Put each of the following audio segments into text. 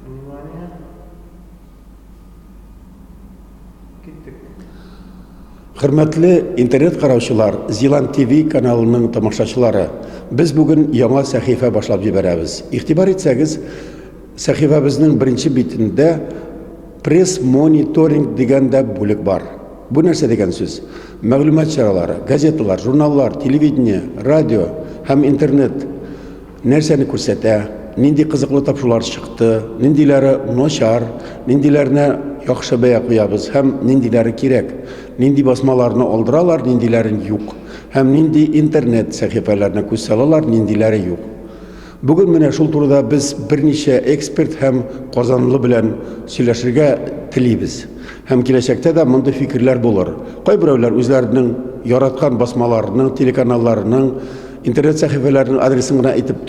Внимание. Киттек. Хөрмәтле интернет караучылар, Зилан ТВ каналының тамашачылары, без бүген яңа сәхифә башлап җибәрәбез. Игътибар итсәгез, сәхифәбезнең беренче битендә пресс-мониторинг дигән дә бүлек бар. Бу нәрсә дигән сүз? Мәгълүмат чаралары, газеталар, журналлар, телевидение, радио һәм интернет Нәрсәне күрсәтә, нинди кызыклы тапшулар чыкты, ниндиләре начар, ниндиләренә яхшы бәя куябыз һәм ниндиләре кирәк, нинди басмаларны алдыралар, ниндиләрен юк һәм нинди интернет сәхифәләренә күз салалар, ниндиләре юк. Бүген менә шул турыда без берничә эксперт һәм казанлы белән сөйләшергә телибез. Һәм киләчәктә дә мондый фикерләр булыр. Кайберәүләр үзләренең яраткан басмаларының, телеканалларының Интернет сәхифәләренең адресын гына әйтеп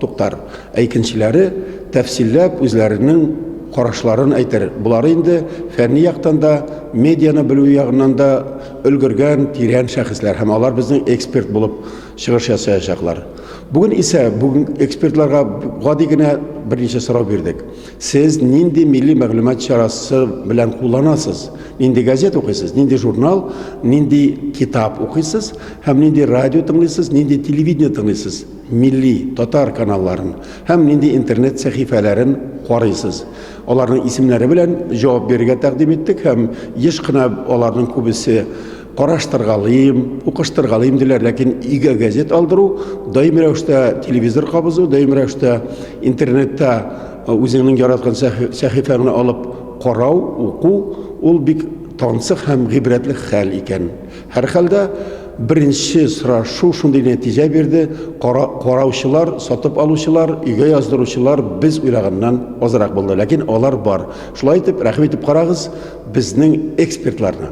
туктар, ә икенчеләре тәфсилләп үзләренең карашларын әйтер. Болар инде фәнни яктан да, медианы белү ягыннан да өлгергән, тирән шәхесләр һәм алар безнең эксперт булып чыгыш ясаячаклар. Бүген исә бүген экспертларга гади генә берничә сорау бирдек. Сез нинди милли мәгълүмат чарасы белән кулланасыз? Нинди газет укыйсыз? Нинди журнал, нинди китап укыйсыз? Һәм нинди радио тыңлыйсыз, нинди телевидение тыңлыйсыз? Милли, татар каналларын һәм нинди интернет сәхифәләрен карыйсыз? Аларның исемнәре белән җавап бирергә тәкъдим иттек һәм еш кына аларның күбесе Караштыргалыйм, укыштыргалыйм диләр, ләкин өйгә газет алдыру, даими рәвештә телевизор кабызу, даими рәвештә интернетта э, үзеңнең яраткан сәхифәңне алып карау, уку, ул бик тансык һәм гыйбрәтле хәл икән. Һәрхәлдә беренче сорашу шундый нәтиҗә бирде, караучылар, сатып алучылар, өйгә яздыручылар без уйлаганнан азрак булды, ләкин алар бар. Шулай итеп, рәхим итеп карагыз, Безнең экспертларны.